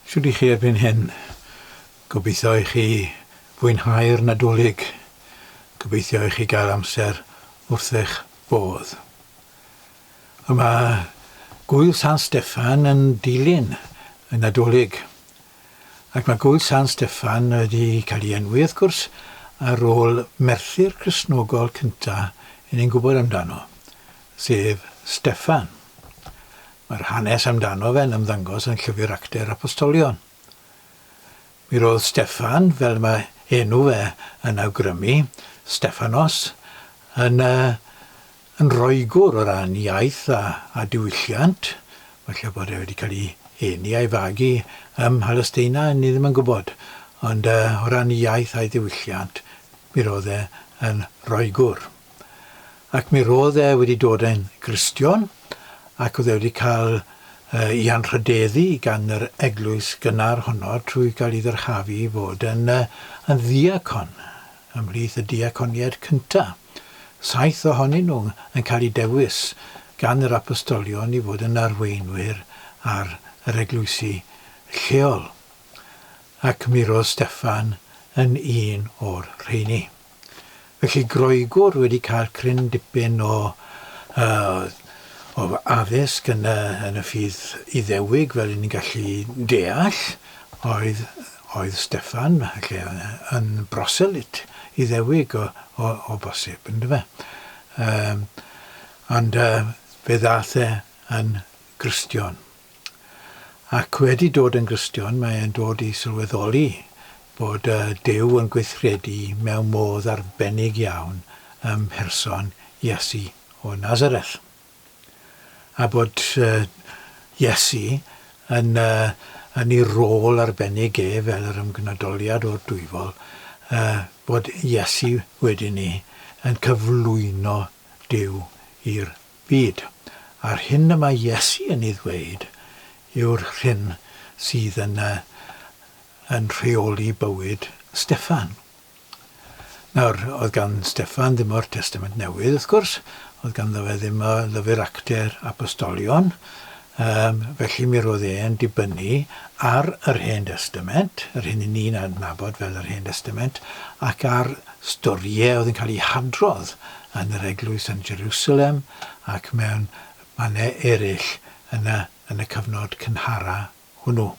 Shwd i chi erbyn hyn? Gobeithio i chi fwynhau'r Nadolig. Gobeithio i chi gael amser wrth eich bodd. A mae Gŵyl San Steffan yn dilyn y Nadolig. Ac mae Gŵyl San Steffan wedi cael ei enwi, wrth gwrs, ar ôl Merthyr Cristnogol cyntaf i ni'n gwybod amdano, sef Steffan. Mae'r hanes amdano fe'n ymddangos yn Llyfr Actau'r Apostolion. Mi roedd Steffan, fel mae enw fe yn awgrymu, Steffanos, yn, yy, yn Roegwr o ran iaith a, a diwylliant, falle bod e wedi cael ei eni a'i fagu ym Mhalesteina, ni ddim yn gwybod, ond, yy, o ran iaith a'i ddiwylliant, mi roedd e yn Roegwr. ac mi ro'dd e wedi dod yn Gristion ac o'dd e wedi ca'l yy 'i anrhydeddu gan yr eglwys gynnar honno trwy ga'l 'i ddyrchafu i fod yn yy yn ddiacon ymhlith y diaconied cynta'. Saith ohonyn nhw yn cael 'u dewis gan yr apostolion i fod yn arweinwyr ar yr eglwysi lleol, ac mi ro'dd Steffan yn un o'r rheini. Felly Groegwr wedi cael cryn dipyn o addysg yn y ffydd Iddewig fel 'yn ni'n gallu deall oedd Steffan yn broselyd Iddewig o bosib yndyfe? Ond fe ddaeth e yn Gristion. Ac wedi dod yn Gristion, mae e'n dod i sylweddoli bod Duw yn gweithredu mewn modd arbennig iawn ym mherson Iesu o Nazareth. A bod Iesu yn yn ei rôl arbennig e fel yr ymgnadoliad o'r Dwyfol, bod Iesu wedyn 'ny yn cyflwyno Duw i'r Byd, a'r hyn y mae Iesu yn ei ddweud yw'r hyn sydd yn yn rheoli bywyd Steffan. Nawr, oedd gan Steffan ddim o'r Testament Newydd, wrth gwrs, oedd ganddo fe ddim y Llyfr Actau'r Apostolion, Yym, felly mi roedd e'n dibynnu ar yr Hen Destament, yr hyn i ni'n adnabod fel yr Hen Destament, ac ar storïau oedd yn cael eu hadrodd yn yr eglwys yn Jerusalem ac mewn mannau eraill yn y, yn y cyfnod cynhara hwnnw.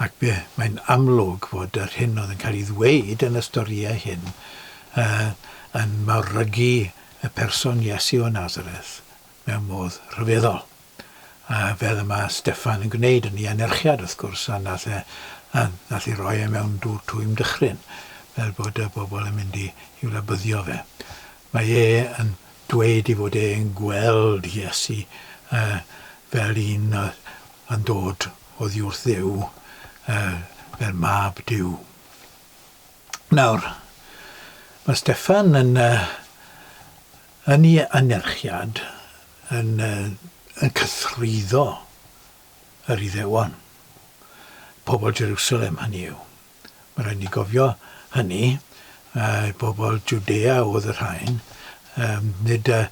Ac be, mae'n amlwg fod yr hyn oedd yn cael ei ddweud yn y storïau hyn yy yn mawrygu y person Iesu o Nazareth. mewn modd rhyfeddol, a fel y mae Steffan yn gwneud yn ei anerchiad wrth gwrs, a nath e, a nath e roi e mewn dŵr twym dychryn, fel bod y bobl yn mynd i i'w labyddio fe. Mae e yn dweud ei fod e'n gweld Iesu yy fel un yy yn dod oddiwrth Dduw, yy fel mab Duw. Nawr, mae Steffan yn yy Yn ei anerchiad yn yn cythruddo yr Iddewon, pobl Jerusalem hynny yw. Mae'n rhaid i ni gofio hynny, yy pobl Jwdea oedd y rhain, yym nid y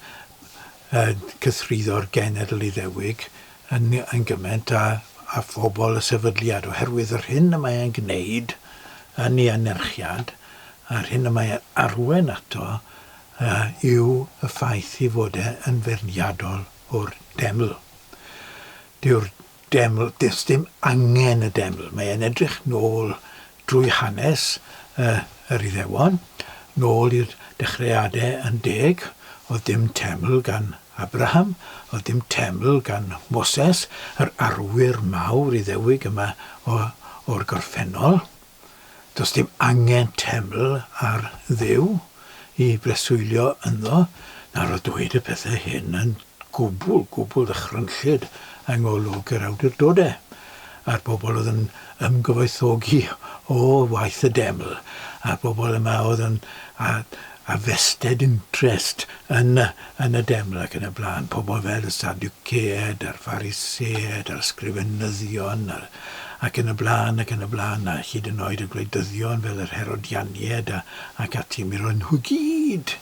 y cythruddo'r genedl Iddewig yn yn gymaint â â phobl y sefydliad, oherwydd yr hyn y mae e'n gwneud yn ei anerchiad, a'r hyn y mae e'n arwain ato A yw y ffaith ei fod e yn feirniadol o'r deml? Dyw'r deml, does dim angen y deml. Mae e'n edrych nôl drwy hanes y, yr Iddewon, nôl i'r dechreuadau yn deg. Oedd dim teml gan Abraham, oedd dim teml gan Moses, yr arwyr mawr Iddewig yma o, o'r gorffennol. Does dim angen teml ar Dduw i breswylio ynddo na roedd dweud y pethau hyn yn gwbl, gwbl ddychrynllyd yng ngolwg yr awdurdodau a'r bobl oedd yn ymgyfoethogi o waith y deml a'r bobl yma oedd yn â a vested interest yn y yn y deml ac yn y blaen, pobl fel y Sadduceaid a'r Phariseaid a'r Sgrifenyddion a'r ac yn y blaen, ac yn y blaen, a hyd yn oed y gwleidyddion fel yr Herodianiaid a, ac ati, mi roedden nhw gyd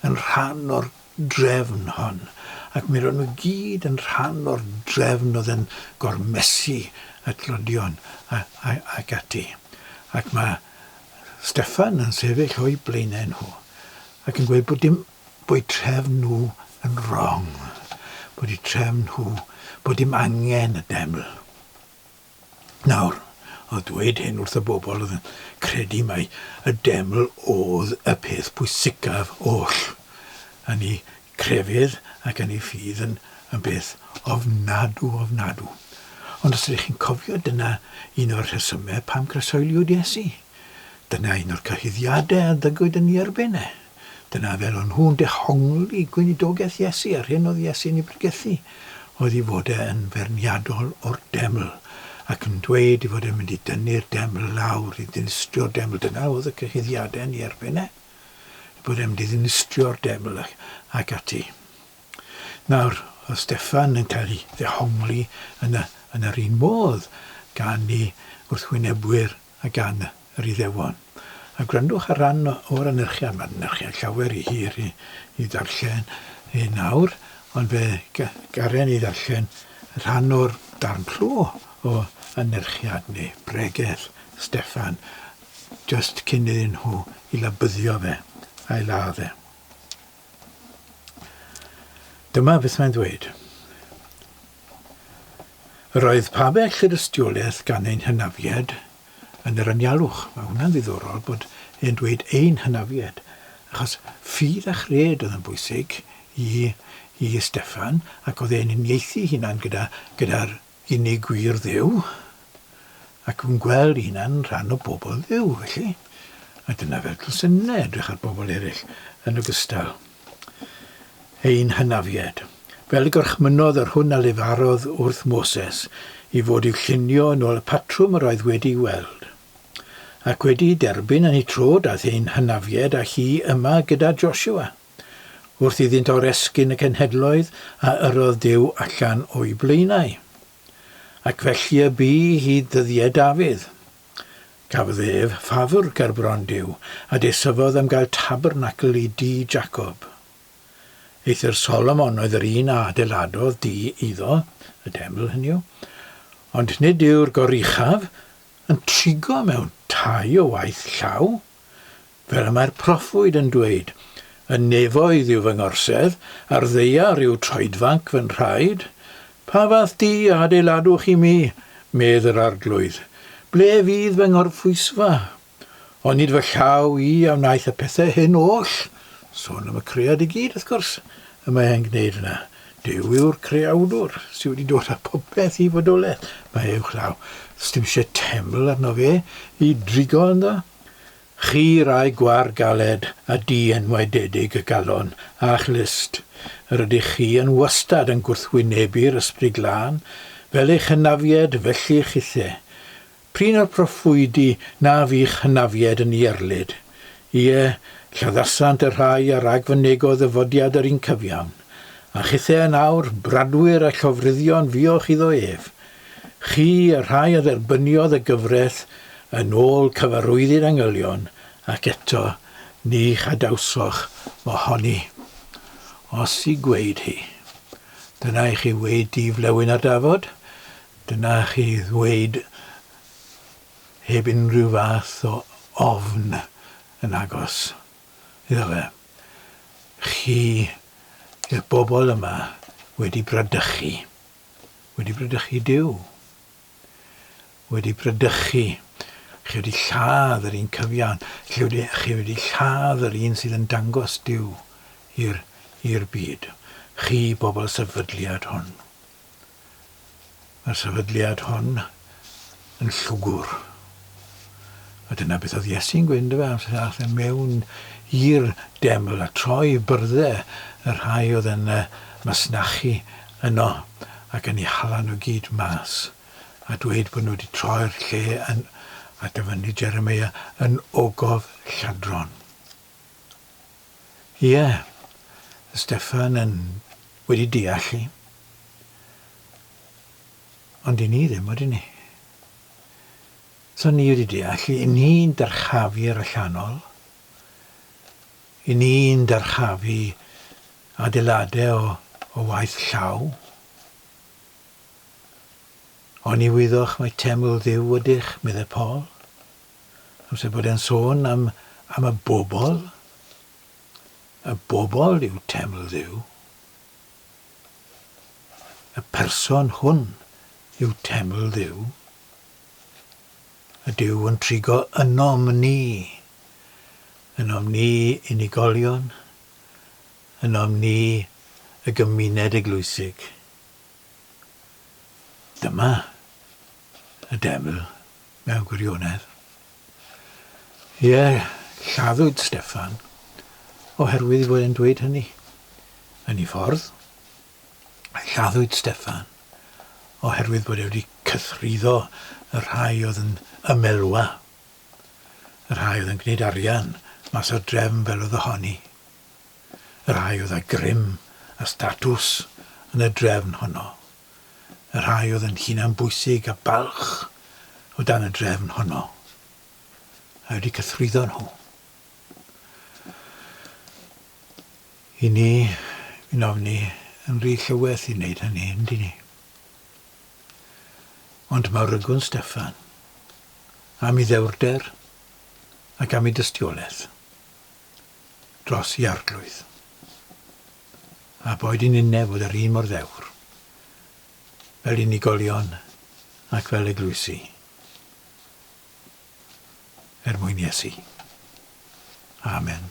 yn rhan o'r drefn hon, ac mi roedden nhw gyd yn rhan o'r drefn oedd yn gormesu y tlodion a, a, ac ati. Ac mae Steffan yn sefyll o'u blaenau nhw, ac yn gweud bod dim Bod eu trefn nhw yn wrong. Bod eu trefn nhw bod dim angen y Deml. Nawr, oedd dweud hyn wrth y bobl oedd yn credu mai y Deml oedd y peth pwysicaf oll yn eu crefydd ac yn eu ffydd yn, yn beth ofnadw, ofnadw. Ond os ydych chi'n cofio, dyna un o'r rhesymau pam croesoeliwyd Iesu. Dyna un o'r cyhuddiadau a ddygwyd yn ei erbyn e. Dyna fel o'n nhw'n dehongli gweinidogaeth Iesu a'r hyn oedd Iesu'n ei bregethu, oedd ei fod e yn feirniadol o'r deml, ac yn dweud ei fod e'n mynd i dynnu'r deml lawr, i ddinistrio'r deml. Dyna oedd y cyhuddiadau yn ei erbyn e, ei bod e'n mynd i ddinistrio'r deml ac, ac ati. Nawr, oedd Steffan yn cael ei ddehongli yn, y, yn yr un modd gan ei wrthwynebwyr a gan yr Iddewon. A gwrandwch ar ran o'r anerchiad, mae'r anerchiad llawer ry hir i'w ddarllen yn awr, ond fe garen i ddarllen rhan o'r darn clo o anerchiad, neu bregeth, Steffan, jyst cyn iddyn nhw 'i labyddio fe, a'i ladd e. Dyma beth mae'n ddweud, Yr oedd pabell yr ystiolaeth gan ein hynafied yn yr anialwch. Mae hwnna'n ddiddorol bod e'n dweud ein hynafied, achos ffydd a chred oedd yn bwysig i i Steffan, ac oedd e'n uniaethu hunan gyda gyda'r Unig gwir Dduw, ac yn gweld ei hunan rhan o bobl Dduw, felly. A dyna fel dylsen ni edrych ar bobl eraill, yn ogystal. Ein hynafiaid. Fel y gorchmynnodd yr hwn a lefarodd wrth Moses, i fod i'w llunio yn ôl y patrwm yr oedd wedi'i weld. Ac wedi'i derbyn yn ei tro daeth ein hynafiaid â hi yma gyda Joshua. Wrth iddynt oresgyn y cenhedloedd a yrrodd Duw allan o'u blaenau. Ac felly y bu i hyd ddyddiau Dafydd. Cafodd ef ffafr ger bron Duw, a desyfodd am gael tabernacl i dŷ Jacob. Eithr Solomon oedd yr un a adeiladodd dŷ iddo, y teml, hynny yw, ond nid yw'r goruchaf yn trigo mewn tai o waith llaw. Fel y mae'r proffwyd yn dweud, Y nefoedd yw fy ngorsedd, a'r ddaear yw troedfanc fy nhraed. Pa fath du a adeiladwch i mi, medd yr Arglwydd? Ble fydd fy ngorphwysfa? Onid fy llaw i a wnaeth y pethau hyn oll? Sôn am y cread i gyd, wrth gwrs, y mae e'n gwneud yna. Duw yw'r Creawdwr, sy wedi dod â phopeth i fodolaeth. Mae e uwchlaw. Sdim isie teml arno fe i drigo ynddo. Chi rai gwar galed a di-enwaededig y galon a'ch lust, yr ydych chi yn wastad yn gwrthwynebu'r Ysbryd Glân, fel eich hynafied felly chithe. Prin a phroffwydi na fu'ch hynafiaid yn ierlid. Ie, lladdasant y rhai a ragfynegodd ddyfodiad yr un cyfiawn. A chithau yn awr, bradwyr a llofruddion fuoch iddo ef. Chi, y rhai a dderbyniodd y gyfraith yn ôl cyfarwyddyd angylion, ac eto ni chadawsoch ohoni. Os i gweud hi. Dyna i chi wei di flewyn a dafod. Dyna chi ddweud heb unrhyw fath o ofn yn agos iddo fe. Chi yw'r bobl yma wedi bradychu, wedi bradychu Duw, wedi bradychu, chi wedi lladd yr un cyfiawn, chi wedi, chi wedi lladd yr un sydd yn dangos Duw i'r i'r byd, chi bobl sefydliad hwn. y sefydliad hon yn llwgwr. A dyna beth oedd Iesu'n gwyn, dyfe, amser ath e mewn i'r deml a troi byrddau y rhai oedd yn y masnachu yno ac yn ei hala nhw gyd mas a dweud bod nhw wedi troi'r lle yn, a dyfynnu Jeremia, yn ogof lladron. Ie, y Steffan yn wedi deall i. Ond i ni ddim, ydyn ni? So ni wedi deall i, i ni'n dyrchafu yr allanol, i ni'n dyrchafu adeiladau o, o waith llaw. Oni wyddoch mae teml ddiw ydych, meddai Paul. Amser bod e'n sôn am, am y bobl. Y bobl yw teml Dduw. Y person hwn yw teml Dduw. Y Duw yn trigo ynom ni. Ynom ni unigolion. Ynom ni y gymuned eglwysig. Dyma y deml Mewn gwirionedd, ie, lladdwyd Steffan oherwydd ei fod e'n dweud hynny. Yn ei ffordd, lladdwyd Steffan oherwydd bod e wedi cythruddo y rhai oedd yn ymelwa, y rhai oedd yn gwneud arian mas o'r drefn fel oedd ohoni, y rhai oedd â grym a statws yn y drefn honno. y rhai oedd yn hunanbwysig a balch o dan y drefn honno, a wedi cythrwyddo nhw. I ni, fi'n ofni, yn rhy llywyth i wneud hynny, yn dyn ni. Ond mae rygwn Steffan, am i ddewrder ac am i dystiolaeth dros i arglwydd. a boed yn unne fod yr un mor ddewr, fel unigolion ac fel eglwysi, er mwyn Iesu. Amen.